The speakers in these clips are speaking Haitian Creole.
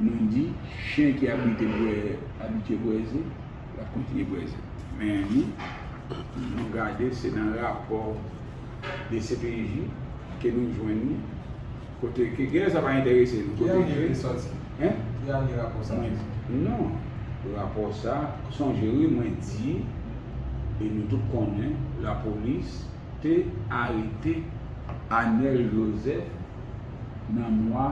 Nou di, Chen ki abitye bwè abitye bwè ze, l ap kontinye bwè ze. Men nou, nou gade se nan rapò dcpj ke nou jwenn li, kote ke genlè sa pa enterese nou. Ki ane li sòti? Hein? Ki ane rapò sa te sòti? Non, rapò sa, sonje wi mwen di, e nou tout konnen, lapolis te arete Anel Joseph nan mwa.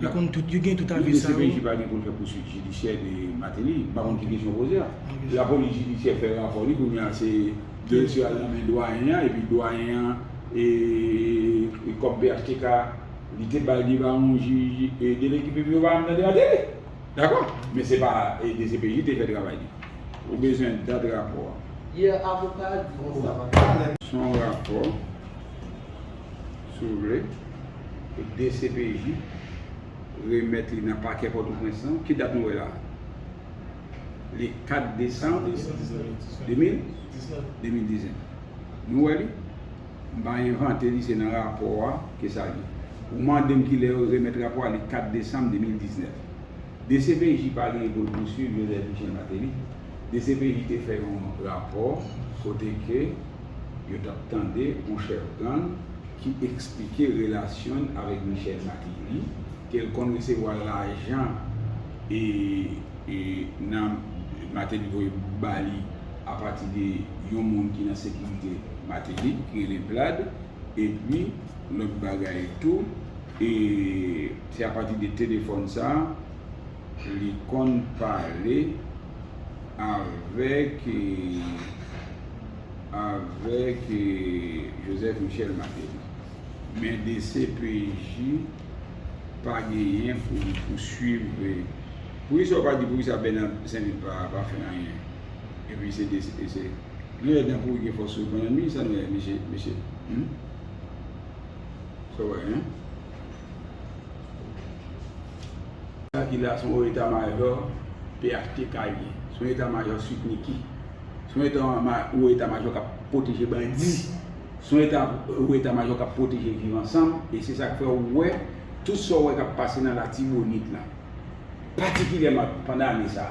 Yo konn tout, yo gen tout avi sa yo. Yo di CPJ pa gen pou l fè pouswit jidisyè de Mateli. M pa konn ki kesyon w poze a. La polis jidisyè fè rapò li kounye a se dosye a nan men dwayen an epi dwayen an kòm phtk li te bay li pa yon jij dele ki piblik yo pa janm tande Mateli. Dakò? Men se pa dcpj te fè travay li. Ou bezwen dat rapò a. Yè avoka a di konsa Mateli. Son rapò. si w vle, pou dcpj remèt li nan pakè Pòtoprens lan. Ki dat nou wè la a? Li 4 desanm 2019. Nou wè li? M pa envante li, se nan rapò a ke sa ye. Ou mande m ki lè yo remèt rapò a, li 4 desanm 2019. Dcpj pa genyen pou l pouswiv Joseph Michel Martelly. Dcpj te fè yon rapò kote ke yo t ap tande yon chèf gang ki eksplike relasyon l avèk Michel Martelly, ke l konn resevwa lajan e nan Martelly voye ba li apati de yon moun ki nan sekirite Martelly ki rele Vlad, epi lòt bagay tou. E se apati de telefòn sa a li konn pale avèk avèk Joseph Michel Martelly. Men dcpj pa genyen pou li pouswiv Poukisa ou pa di poukisa Bernard Sainvit pa fè anyen? Epi se dcpj. Nou wè dan pouri gen fòs sou bannann wi sa nou wè mesye? Hum? Sa wè hein. Sa ki la son eta majò phtk ye. Son eta majò sweet micky. Son eta ou eta majò kap pwoteje bandi. Son eta ou eta majò kap pwoteje viv ansanm e se sak fè ou wè tout sa ou wè kap pase nan latibonit la patikilyèman pandan ane sa.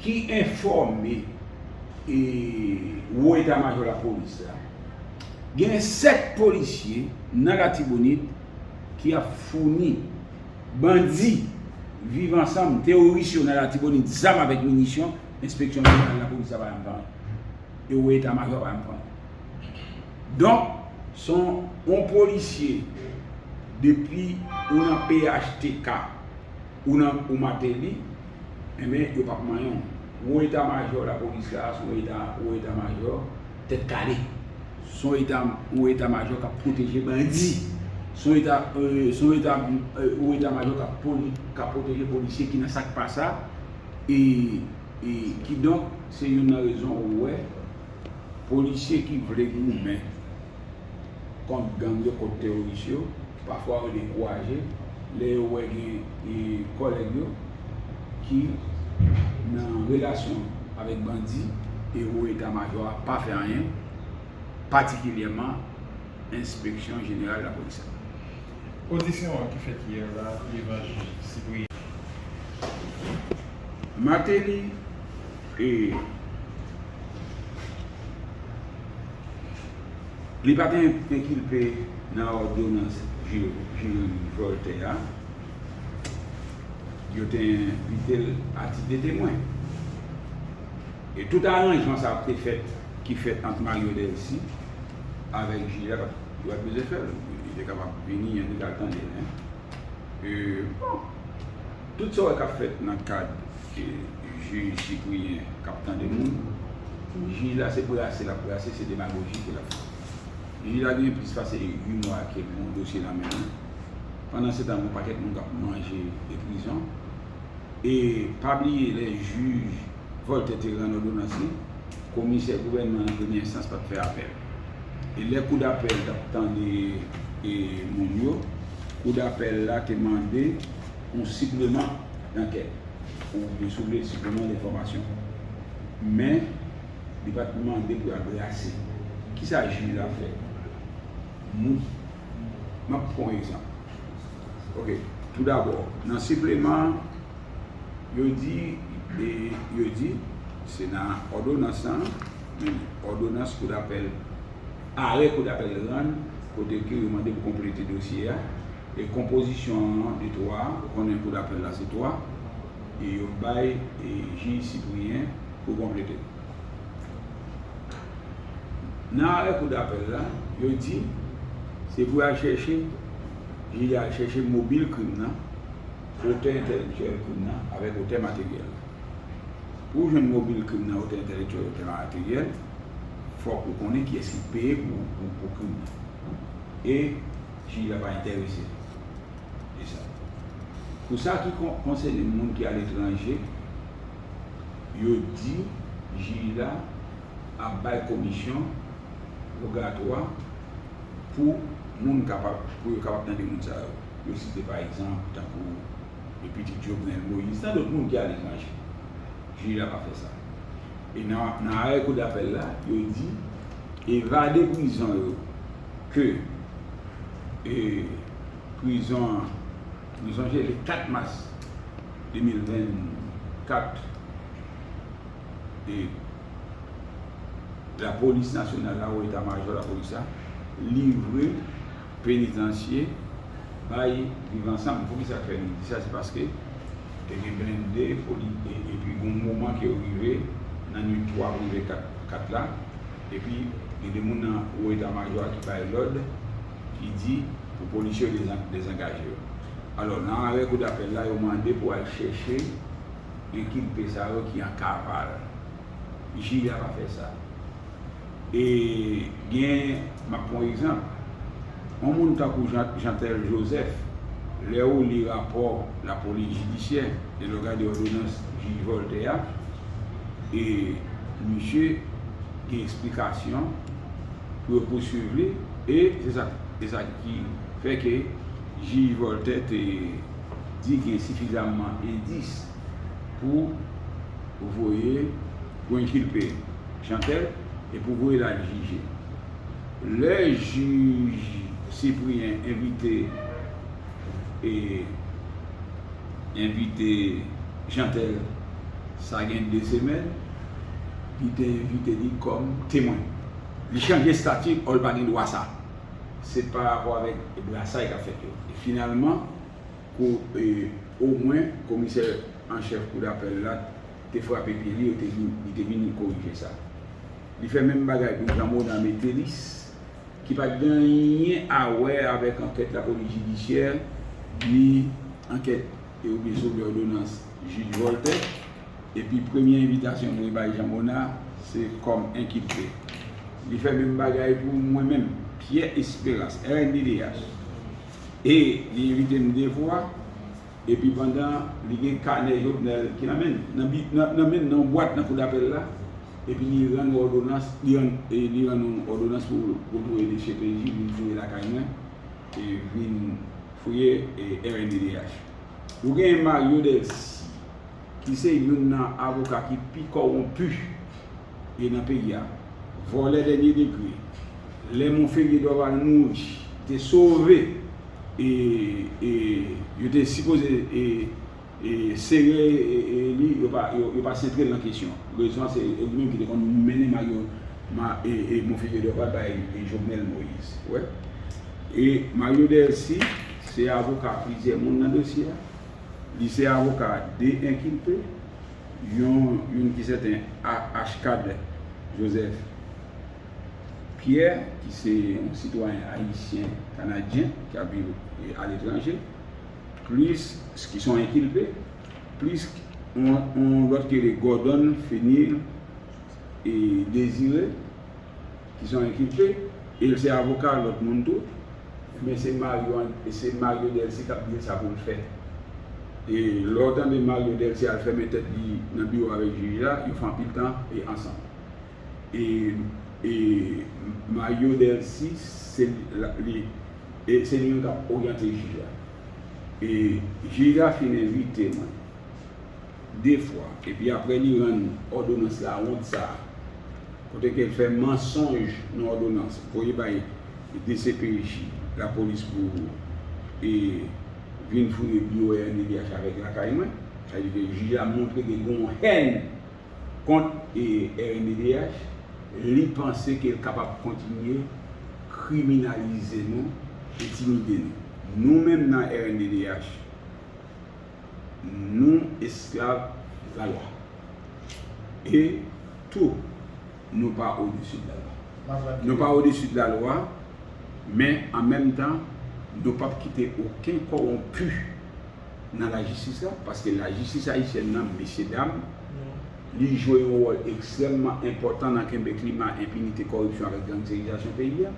ki enfòme Wo Eta Majò Lapolis la, gen 7 polisye nan Latibonit ki ap founi bandi Viv Ansanm, teworis yo nan Latibonit, zam avèk minisyon, Enspeksyon Jeneral Lapolis la pa janm pran yo e Wo Eta Majò a pa janm pran yo. Donk, se yon polisye depi ou nan phtk ou nan ou Mateli. Enben, yo pap manyen w. Wo eta majò lapolis la se yon eta wo eta majò tèt kale. Se yon eta wo eta majò k ap pwoteje bandi. Se yon eta yon eta wo eta majò k ap pwoteje polisye ki nan sa k pa sa. E e kidonk se youn nan rezon ou wè polisye ki vle goumen. kont gang yo, kont teworis yo, pafwa yo dekouraje lè yo wè gen kòlèg yo ki nan relasyon avèk bandi e wo eta majò a pa fè anyen, patikilyèman enspeksyon jeneral lapolis la. Odisyon an ki fèt yè la devan jij Cyprien. Martelly e. Li pa te enkilpe nan òdonans jirim vòltè a. Yo te envite l a tit de temwen. E tout aranjman sa ap te fèt ki fèt ant Mario Delcy avèk jij la yo pa t bezwen fè l. Li te kapab vini epi l al tande l. E bon, tout sa w wè k ap fèt nan kad. Jij Cyprien kap tande moun. Pou jij la se brase lap brase se demagoji ke lap fè. Jij la genyen plis pase 8 mwa ke li yon dosye nan men li. Pandan se tan gon pakèt moun kap manje de prizon. E pa bliye lè jij Voltè te rann odonans li, komisè gouvènman nan premye enstans pat fè apèl. E lè kou dapèl tap tande moun yo, kou dapèl la te mande yon sipleman. nan kè li. Ou byen souliye sipleman de fòmasyon. Men, li pa t mande pou y al brase. Ki sa jij la fè? Moun. M ap pran yon egzanp. Oke, toudabò, nan sipleman an, yo di, yo di, se nan òdonans lan, men li, òdonans koudapèl, arè koudapèl rann, kote ke yo mande pou konplete dosye a. E konpozisyon an de 3, ou konnen kou dapèl la se 3, e yo bay jij Cyprien pou konplete. Nan arè kou dapèl la, yo di se pou yo al chèche, jij la al chèche mobil krim nan, otè entèlektyèl krim nan avèk otè materyèl la. Pou jwenn mobil krim nan, otè entèlektyèl, otè materyèl, fòk ou konnen kiyès ki peye pou krim nan. E. Fi a pa entèrese l. E sa? Pou sa ki konsène moun ki aletranje, yo di jij la ap bay komisyon pògatwa pou moun kapab, pou yo kapab tande moun sa yo. Yo site pa egzanp tankou de pitit Jovenel Moïse, tan dòt moun ki aletranje. Jij la pa fè sa. E nan arè kou dapèl la, yo di evade prizon yo ke prizon an, nou sonje le 4 mas 2024, la polis nasyonal la ou eta majò la polis la livre penitansye bay viv ansanm. Pou ki sa k fè nou di sa? Se paske te gen blende epi gen yon moman ke yo rive nan nwit 3 pou rive 4 la, Epi, gen de moun nan wo eta majò a ki bay lòd, ki di pou polisye yo dezangaje yo. Alò, nan arè kou dapèl la, yo mande pou al chèche enkilpe sa yo ki an kaval. Jij a pa fè sa. E gen, m ap pran yon egzanp. yon moun tankou Jeantel Joseph, lè ou li rapò lapolis jidisyè e lè w gade òdonans jij Voltè a, e misye gen eksplikasyon pou yo pouswiv li, e se sa ki fè ke jij Voltè te di gen sifizamman endis pou voye, pou enkilpe Jeantel e pou voye l al jije. Lè jij Cyprien envite envite Jeantel sa gen 2 semèn li te envite li kòm temwen. Li chanje stati òl pa gen dwa sa. Se pa rapò avèk brasay kap fèt yo. Finalman kou omwen komisè an chèf kou dapèl la t. te frape pye li yo te lou, li te vini korije sa. Li fè menm bagay pou Jean Mona Métellis, ki pa t gen anyen a wè avèk ankèt lapolis jidisyè, ni ankèt e oubyen sou òdonans jij Voltè, epi premye envitasyon mwen bay Jean Mona, se kòm enkilpe. Li fè menm bagay pou mwen menm, Pierre Esperance, rnddh, e li envite m de fwa. Epi pandan li gen kanè Jovenel ki nan men l, nan bi, nan, nan men l, nan yon bwat nan kou dapèl la, epi li rann yon òdonans, li rann, li rann yon òdonans pou retou e li cpi vin fouye lakay mwen, e vin fouye rnddh. Ou gen Mario Delcy. ki se youn nan avoka ki pi kòwonpi e nan peyi a, vòlè dènye degre, lè Monferrier Dorval mouri te sove e e yo te sipoze e e sere e li yo pa yo pa sentre l nan kesyon rezon an se li menm ki te konn mennen may yo ma e e Monferrier Dorval bay Jovenel Moïse wè e Mario Delcy se avoka plizyè moun nan dosye a. Li se avoka 2 enkilpe, yon youn ki sèten Arcade Joseph Pierre ki se yon sitwayen ayisyen kanadyen ki ap viv aletranje, plis ki son enkilpe, plis yon lòt ki rele Gordon Fenil Désiré ki son enkilpe e l se avoka lòt moun tou. Ebyen se Mario se Mario Delcy kap dil sa poul fè e lèw tande Mario Delcy al fèmen tèt li nan biwo avèk jij la yo fè anpil tan e ansanm e e Mario Delcy se li e se li menm kap oryante jij la e jij la fin envite mwen 2 fwa epi aprè li rann òdonans la wont sa. Kote ke l fè mansonj nan òdonans voye bay dcpj, lapolis pou e vin fouye biwo rnddh avèk lakay mwen. Sa vle di ke jij la montre ke gen yon hèn kont e rnddh. Li panse ke l kapab kontinye kriminalize nou, entimide nou. Nou menm nan rnddh. nou esklav lalwa. E tou, nou pa odesi de lalwa. Nou pa odesi de lalwa, men an menm tan, nou pap kite oken kowonpi nan lajistis la, paske lajistis ayisyèn nan, mesyedam, li jwe yon wòl ekstrèmman enpòtan nan kenbe klima enpinite, kòripsyon avèk gangsterizasyon peyi a.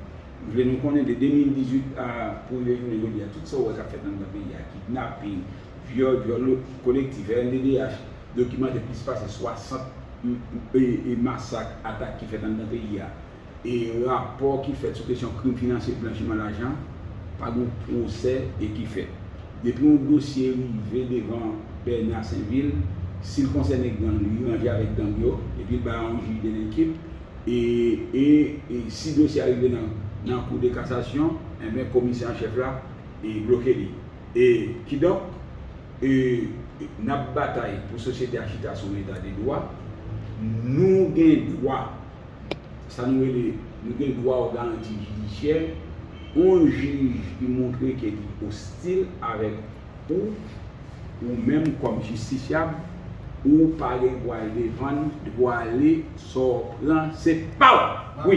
Vle nou konnen de 2018 a pou rive jounen jodi a tout sa ou wè kap fèt anndan peyi a kidnaping, vyòl, vyòl kolektif, rnddh dokimante plis pase 60 masak, atak ki fèt anndan peyi a e rapò ki fèt sou kesyon krim finansye, blanchiman lajan pa gon pwosè e ki fèt. Depi yon dosye rive devan Bernard Sainvil sil konsène gang li ranje avèk gang yo epi l bay yon jij delinkim. E e si dosye a rive nan nan kou de kasasyon, enben komisè an chèf la e bloke li. E kidonk e n ap batay pou sosyete a chita sou yon eta de dwa. Nou gen dwa sa nou rele nou gen dwa o garanti jidisyè. On jij ki montre ke li ostil avèk. Ou, ou menm kòm jistisyab, ou pa gen dwa al devan, dwa ale, sa w pran se pa w! Wi!